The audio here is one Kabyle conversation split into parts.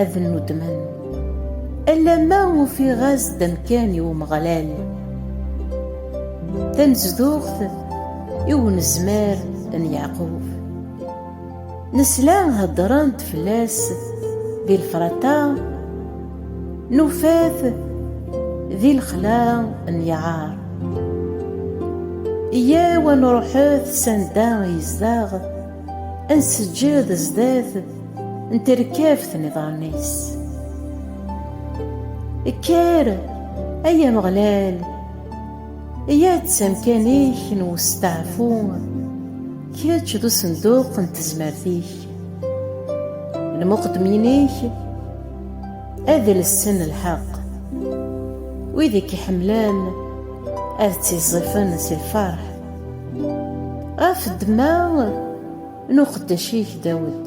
ad nnuddmen alamma ufiɣ-as-d amkan i Umeɣlal tanezduɣt i unezmar n Yeɛqub nesla heddren-d fell-as di lefrata nufat di lexla n Yeɛar yyaw ad nruḥet sanda yezdeɣ ad nseǧǧed zdat n terkabt n iḍarren-is. Kker, ay Ameɣlal, ya-d s amkan-ik n westeɛfu, kečč d usenduq n tezmert-ik. Lmuqeddmin-ik ad lsen lḥeqq, wid i k-iḥemmlen ad ttiẓẓifen si lferḥ. Ɣef ddemma n uqeddac-ik Dawed,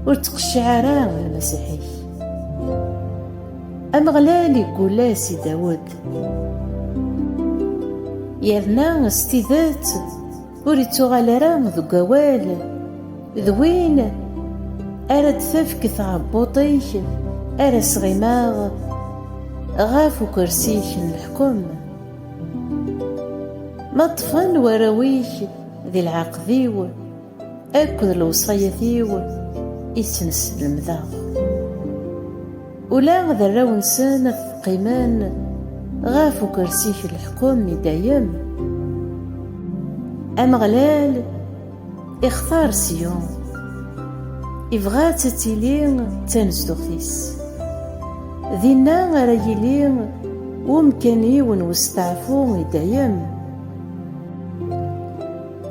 ur ttqecciɛ ara lmasiḥ-ik. Ameɣlal iggul-as i Dawed, yerna s tidet ur ittuɣal ara deg awal d win ara d-tefk tɛebbuṭ-ik ara sɣimeɣ ɣef ukersi-k n leḥkem. Ma ṭṭfen warraw-ik di lɛaqed-iw Akked lewṣayat-iw i sen-slemdeɣ Ula d arraw-nsen qqimen Ɣef ukersi-k n leḥkem i dayem Ameɣlal Ixtar Siyun, ibɣa-tt ad tili d tanezduɣt-is. Dinna ara yili umkan-iw n westeɛfu i dayem.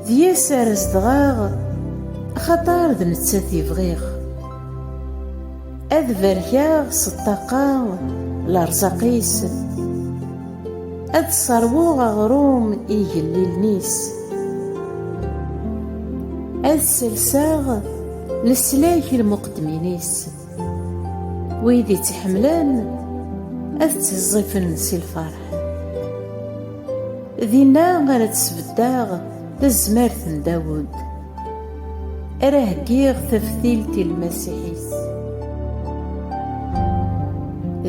D yes ara zedɣeɣ, axaṭer d nettat i bɣiɣ. Ad berkeɣ s ṭṭaqa lerẓaq-is, ad sserwuɣ aɣrum i igellilen-is, ad selseɣ leslak i lmuqeddmin-is, wid i tt-iḥemmlen ad ttiẓẓifen si lferḥ. Dinna ara d-sbeddeɣ tazmert n Dawed. Ara heggiɣ taftilt i lmasiḥ-is.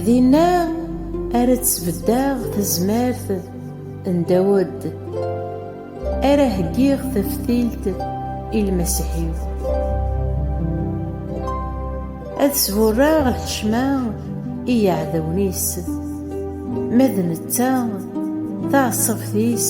Dinna ara tt-beddaɣ tazmert n Dawed. Ara heggiɣ taftilt i lmasiḥ-iw. Ad sburreɣ lḥecma i yiɛdawen-is. Ma d netta, taɛeṣṣabt-is